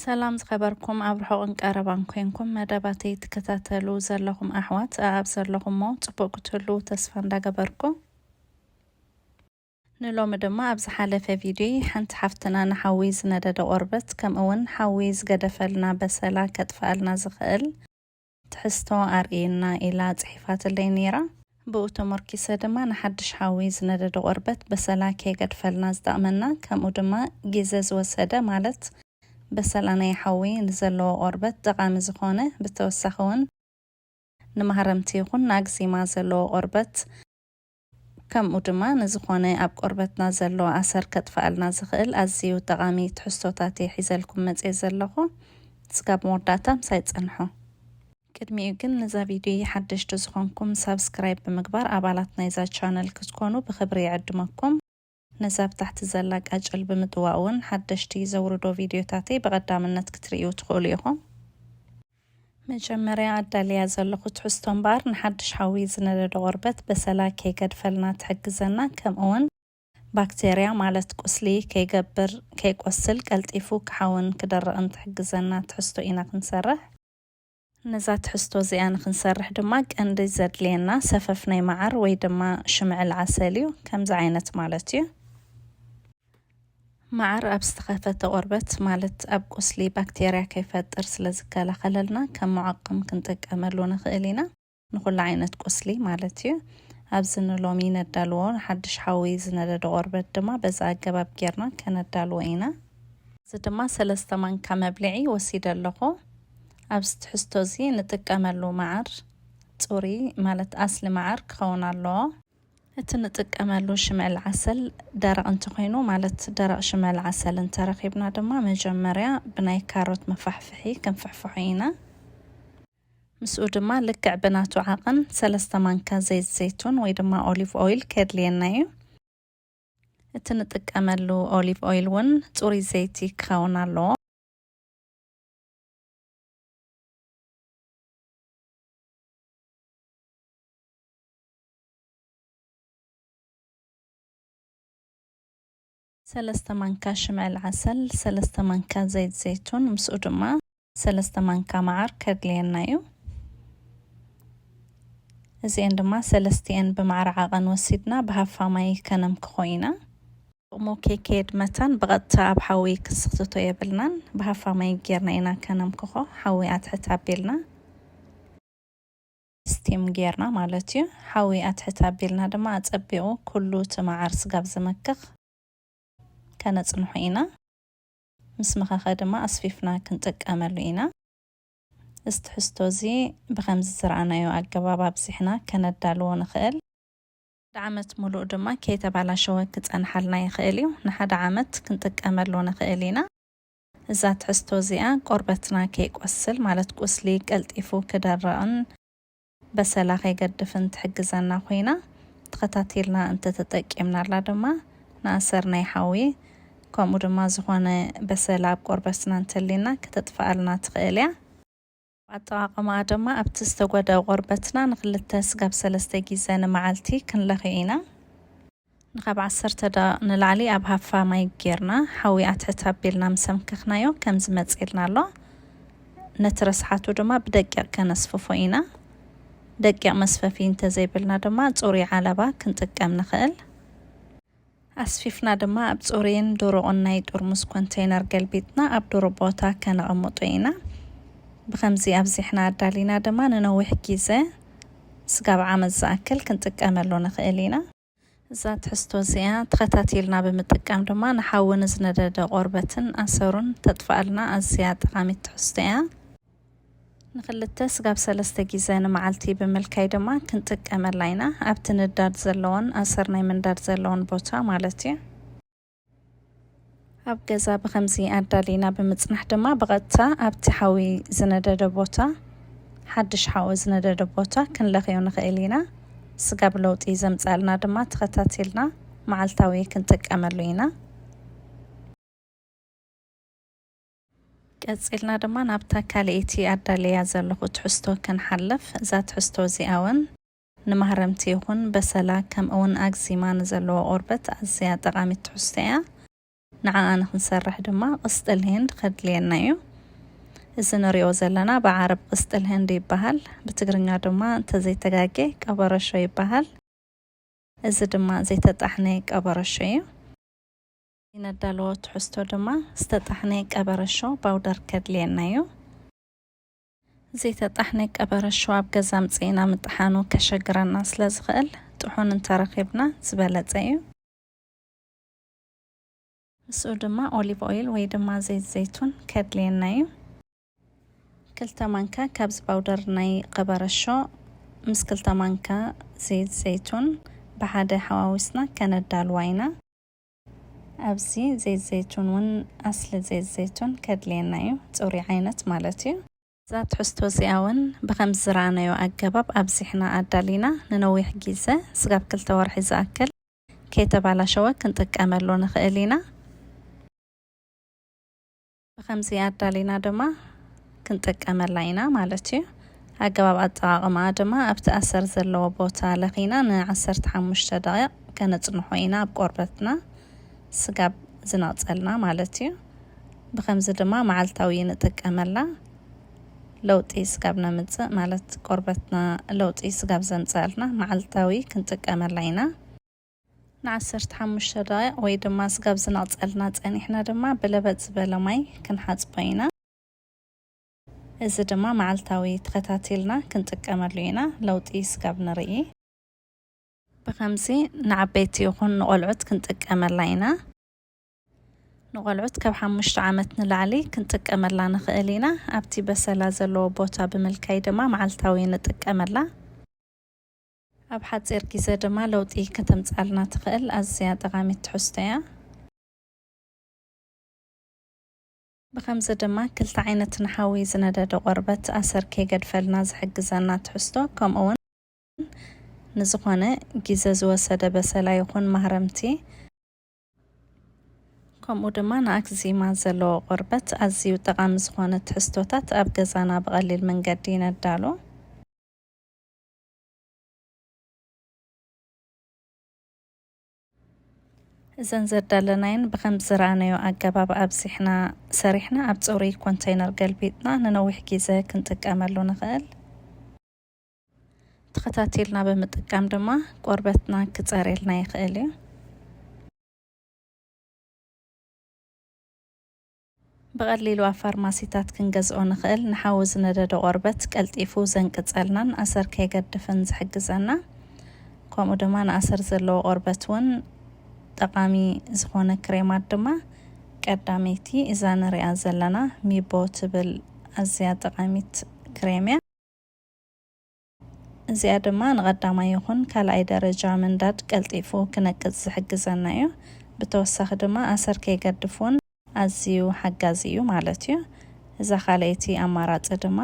ሰላም ዝኸበርኩም ኣብ ርሑቕን ቀረባን ኮንኩም መደባተይ ትከታተሉ ዘለኹም ኣሕዋት ኣኣብ ዘለኹሞ ጽቡቕ ክትህልዉ ተስፋ እንዳገበርኩ ንሎሚ ድማ ኣብ ዝሓለፈ ቪድዮይ ሓንቲ ሓፍትና ንሓዊ ዝነደደ ቆርበት ከምኡውን ሓዊ ዝገደፈልና በሰላ ከጥፍኣልና ዝኽእል ትሕዝቶ ኣርእየና ኢላ ጽሒፋትለይ ነይራ። ብኡ ተሞርኪሰ ድማ ንሓድሽ ሓዊ ዝነደደ ቆርበት በሰላ ከየገድፈልና ዝጠቕመና ከምኡ ድማ ጊዘ ዝወሰደ ማለት በሰላ ናይ ሓዊ ንዘለዎ ቆርበት ጠቓሚ ዝኾነ ብተወሳኺ ውን ንማህረምቲ ይኹን ንኣግዜማ ዘለዎ ቆርበት ከምኡ ድማ ንዝኾነ ኣብ ቆርበትና ዘሎ ኣሰር ከጥፍኣልና ዝኽእል ኣዝዩ ጠቓሚ ትሕዝቶታት እየ ሒዘልኩም መጽየ ዘለኹ። እስካብ መወዳእታ ምሳይ ጸንሑ። ቅድሚኡ ግን ንዛ ቪድዮይ ሓደሽቲ ዝኾንኩም ሳብስክራይብ ብምግባር ኣባላት ናይዛ ቻነል ክትኮኑ ብኽብሪ ይዕድመኩም። ነዛ ኣብ ታሕቲ ዘላ ቃጭል ብምጥዋቕ እውን ሓደሽቲ ዘውርዶ ቪድዮታተይ ብቐዳምነት ክትርእዩ ትኽእሉ ኢኹም። መጀመርያ ኣዳልያ ዘለኹ ትሕዝቶ እምበኣር ንሓድሽ ሓዊ ዝነደዶ ቆርበት በሰላ ከይገድፈልና ትሕግዘና ከምኡ እውን ባክተርያ ማለት ቁስሊ ከይገብር ከይቆስል ቀልጢፉ ክሓውን ክደርቕን ትሕግዘና ትሕዝቶ ኢና ክንሰርሕ። ነዛ ትሕዝቶ እዚኣ ንክንሰርሕ ድማ ቀንዲ ዘድልየና ሰፈፍ ናይ መዓር ወይ ድማ ሽምዕል ዓሰል እዩ። ከምዚ ዓይነት ማለት እዩ። መዓር ኣብ ዝተኸፈተ ቆርበት ማለት ኣብ ቁስሊ ባክቴርያ ከይፈጥር ስለ ዝከላኸለልና ከም ሙዓቕም ክንጥቀመሉ ንኽእል ኢና። ንኹሉ ዓይነት ቁስሊ ማለት እዩ። ኣብዚ ንሎሚ ነዳልዎ ሓድሽ ሓዊ ዝነደደ ቆርበት ድማ በዚ ኣገባብ ጌርና ከነዳልዎ ኢና። እዚ ድማ ሰለስተ ማንካ መብልዒ ወሲደ ኣለኹ። ኣብዚ ትሕዝቶ እዚ ንጥቀመሉ መዓር ጽሩይ ማለት ኣስሊ መዓር ክኸውን ኣለዎ። እቲ ንጥቀመሉ ሽምዕል ዓሰል ደረቕ እንተኾይኑ ማለት ደረቕ ሽምዕል ዓሰል እንተረኺብና ድማ መጀመርያ ብናይ ካሮት መፋሕፍሒ ክንፍሕፍሖ ኢና። ምስኡ ድማ ልክዕ ብናቱ ዓቐን ሰለስተ ማንካ ዘይት ዘይቱን ወይ ድማ ኦሊቭ ኦይል ከድልየና እዩ። እቲ ንጥቀመሉ ኦሊቭ ኦይል እውን ፅሩይ ዘይቲ ክኸውን ኣለዎ። ሰለስተ ማንካ ሽምዕል ዓሰል፣ ሰለስተ ማንካ ዘይት ዘይቱን ምስኡ ድማ ሰለስተ ማንካ መዓር ከድልየና እዩ። እዚኤን ድማ ሰለስቲኤን ብማዕረ ዓቐን ወሲድና ብሃፋ ማይ ከነምክኾ ኢና። ጥቕሙ ከይከየድ መታን ብቐጥታ ኣብ ሓዊ ክስኽትቶ የብልናን። ብሃፋ ማይ ጌርና ኢና ከነምክኾ፣ ሓዊ ኣትሕት ኣቢልና። ስቲም ጌርና ማለት እዩ ሓዊ ኣትሕት ኣቢልና ድማ ኣጸቢቑ ኩሉ እቲ መዓር ስጋብ ዝመክኽ ከነጽንሖ ኢና ምስ መኸኸ ድማ ኣስፊፍና ክንጥቀመሉ ኢና። እዚ ትሕዝቶ እዚ ብኸምዚ ዝረኣናዮ ኣገባብ ኣብዚሕና ከነዳልዎ ንኽእል። ሓደ ዓመት ሙሉእ ድማ ከይተባላሸወ ክጸንሓልና ይኽእል እዩ። ንሓደ ዓመት ክንጥቀመሉ ንኽእል ኢና። እዛ ትሕዝቶ እዚኣ ቆርበትና ከይቆስል ማለት ቁስሊ ቀልጢፉ ክደርቕን በሰላ ከይገድፍን ትሕግዘና ኮይና ተኸታቲልና እንተተጠቂምናላ ድማ ንኣሰር ናይ ሓዊ ከምኡ ድማ ዝኾነ በሰላ ኣብ ቆርበትና እንተሊና ከተጥፍኣልና ትኽእል እያ። ኣጠቓቕማኣ ድማ ኣብቲ ዝተጎድኣ ቆርበትና ንክልተ ስጋብ ሰለስተ ጊዘ ንመዓልቲ ክንለኽዮ ኢና። ንካብ ዓሰርተ ደቓቕ ንላዕሊ ኣብ ሃፋ ማይ ጌርና ሓዊ ኣትሕት ኣቢልና ምስ ኣምከኽናዮ ከምዚ መጺልና ኣሎ። ነቲ ረስሓቱ ድማ ብደቂቕ ከነስፍፎ ኢና። ደቂቕ መስፈፊ እንተዘይብልና ድማ ጽሩይ ዓለባ ክንጥቀም ንኽእል። ኣስፊፍና ድማ ኣብ ጽሩይን ድሩቕን ናይ ጥርሙዝ ኮንተይነር ገልቢጥና ኣብ ድሩብ ቦታ ከነቐምጦ ኢና። ብኸምዚ ኣብዚሕና ኣዳሊና ድማ ንነዊሕ ግዜ፣ ስጋብ ዓመት ዝኣክል፣ ክንጥቀመሉ ንኽእል ኢና። እዛ ትሕዝቶ እዚኣ ተኸታቲልና ብምጥቃም ድማ ንሓዊ ንዝነደደ ቆርበትን ኣሰሩን ተጥፍኣልና ኣዝያ ጠቓሚት ትሕዝቶ እያ። ንክልተ ስጋብ ሰለስተ ጊዘ ንመዓልቲ ብምልካይ ድማ ክንጥቀመላ ኢና። ኣብቲ ንዳድ ዘለዎን ኣሰር ናይ ምንዳድ ዘለዎን ቦታ ማለት እዩ። ኣብ ገዛ ብከምዚ ኣዳሊና ብምጽናሕ ድማ ብቐጥታ ኣብቲ ሓዊ ዝነደደ ቦታ ሓድሽ ሓዊ ዝነደደ ቦታ ክንለኽዮ ንኽእል ኢና። ስጋብ ለውጢ ዘምጻልና ድማ ተኸታቲልና መዓልታዊ ክንጥቀመሉ ኢና። ቀጺልና ድማ ናብታ ካልኤቲ ኣዳልየያ ዘለኹ ትሕዝቶ ክንሓልፍ። እዛ ትሕዝቶ እዚኣ ውን ንማህረምቲ ይኹን በሰላ ከምኡ ውን ኣግዚማ ንዘለዎ ቆርበት ኣዝያ ጠቓሚት ትሕዝቶ እያ። ንዓኣ ንኽንሰርሕ ድማ ቅስጥል ሂንድ ከድልየና እዩ። እዚ ንሪኦ ዘለና ብዓረብ ቅስጥል ህንድ ይበሃል። ብትግርኛ ድማ እንተዘይተጋጌ ቀበረሾ ይበሃል። እዚ ድማ ዘይተጣሕነ ቀበረሾ እዩ። እነዳለዎ ትሕዝቶ ድማ ዝተጣሕነ ቀበረሾ ባውደር ከድልየና እዩ። ዘይተጣሕነ ቀበረሾ ኣብ ገዛ ኣምጺእና ምጥሓኑ ከሸግረና ስለ ዝኽእል ጥሑን እንተረኺብና ዝበለጸ እዩ። ምስኡ ድማ ኦሊቭ ኦይል ወይ ድማ ዘይት ዘይቱን ከድልየና እዩ። ክልተ ማንካ ካብዚ ባውደር ናይ ቀበረሾ ምስ ክልተ ማንካ ዘይት ዘይቱን ብሓደ ሓዋዊስና ከነዳልዋ ኢና። ኣብዚ ዘይት ዘይቱን ውን ኣስሊ ዘይት ዘይቱን ከድልየና እዩ፣ ጽሩይ ዓይነት ማለት እዩ። እዛ ትሕዝቶ እዚኣ ውን ብኸምዚ ዝረኣናዮ ኣገባብ ኣብዚሕና ኣዳሊና ንነዊሕ ጊዘ ስጋብ ክልተ ወርሒ ዝኣክል ከይተባላሸወ ክንጥቀመሉ ንኽእል ኢና። ብኸምዚ ኣዳሊና ድማ ክንጥቀመላ ኢና ማለት እዩ። ኣገባብ ኣጠቓቕማኣ ድማ ኣብቲ ኣሰር ዘለዎ ቦታ ለኺና ንዓሰርተ ሓሙሽተ ደቒቕ ከነጽንሖ ኢና ኣብ ቆርበትና ስጋብ ዝነቕጸልና ማለት እዩ። ብኸምዚ ድማ መዓልታዊ ንጥቀመላ ለውጢ ስጋብ ነምጽእ ማለት ቆርበትና ለውጢ ስጋብ ዘምጽኣልና መዓልታዊ ክንጥቀመላ ኢና። ንዓሰርተ ሓሙሽተ ደቓይቕ ወይ ድማ ስጋብ ዝነቕጸልና ጸኒሕና ድማ ብለበጥ ዝበለ ማይ ክንሓጽቦ ኢና። እዚ ድማ መዓልታዊ ተኸታቲልና ክንጥቀመሉ ኢና ለውጢ ስጋብ ንርኢ። ብኸምዚ ንዓበይቲ ይኹን ንቖልዑት ክንጥቀመላ ኢና። ንቖልዑት ካብ ሓሙሽተ ዓመት ንላዕሊ ክንጥቀመላ ንኽእል ኢና። ኣብቲ በሰላ ዘለዎ ቦታ ብምልካይ ድማ መዓልታዊ ንጥቀመላ። ኣብ ሓጺር ግዜ ድማ ለውጢ ከተምጽኣልና ትኽእል ኣዝያ ጠቓሚት ትሕዝቶ እያ። ብኸምዚ ድማ ክልተ ዓይነት ንሓዊ ዝነደደ ቆርበት ኣሰር ከይገድፈልና ዝሕግዘና ትሕዝቶ ከምኡውን ንዝኾነ ግዜ ዝወሰደ በሰላ ይኹን ማህረምቲ ከምኡ ድማ ንኣክዚማ ዘለዎ ቆርበት ኣዝዩ ጠቓሚ ዝኾነ ትሕዝቶታት ኣብ ገዛና ብቐሊል መንገዲ ነዳሉ። እዘን ዘዳለናየን ብከምዚ ዝረኣናዮ ኣገባብ ኣብዚሕና ሰሪሕና ኣብ ፅሩይ ኮንተይነር ገልቢጥና ንነዊሕ ግዘ ክንጥቀመሉ ንኽእል። ተኸታቲልና ብምጥቃም ድማ ቆርበትና ክፀርየልና ይኽእል እዩ። ብቐሊሉ ኣብ ፋርማሲታት ክንገዝኦ ንኽእል፣ ንሓዊ ዝነደደ ቆርበት ቀልጢፉ ዘንቅጸልናን ኣሰር ከየገድፍን ዝሕግዘና ከምኡ ድማ ንኣሰር ዘለዎ ቆርበት እውን ጠቓሚ ዝኾነ ክሬማት ድማ ቀዳመይቲ እዛ ንሪኣ ዘለና ሚቦ ትብል ኣዝያ ጠቓሚት ክሬም እያ። እዚኣ ድማ ንቐዳማይ ይኹን ካልኣይ ደረጃ ምንዳድ ቀልጢፉ ክነቅጽ ዝሕግዘና እዩ። ብተወሳኺ ድማ ኣሰር ከይገድፍ ውን ኣዝዩ ሓጋዚ እዩ ማለት እዩ። እዛ ካልኣይቲ ኣማራጺ ድማ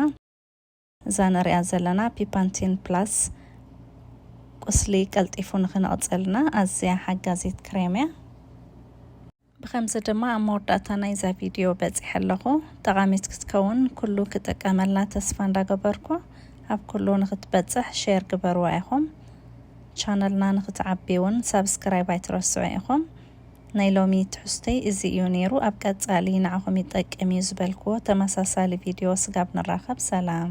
እዛ ንሪኣ ዘለና ፒፓንቲን ፕላስ ቁስሊ ቀልጢፉ ንክነቕጸልና ኣዝያ ሓጋዚት ክሬም እያ። ብኸምዚ ድማ ኣብ መወዳእታ ናይዛ ቪድዮ በጺሐ ኣለኹ። ጠቓሚት ክትከውን ኩሉ ክጥቀመላ ተስፋ እንዳገበርኩ ኣብ ኩሉ ንኽትበጽሕ ሼር ግበርዋ ኢኹም። ቻነልና ንኽትዓቢ እውን ሳብስክራይብ ኣይትረስዑ ኢኹም። ናይ ሎሚ ትሕዝቶይ እዚ እዩ ነይሩ። ኣብ ቀጻሊ ንዓኹም ይጠቅም እዩ ዝበልክዎ ተመሳሳሊ ቪድዮ ስጋብ ንራኸብ ሰላም።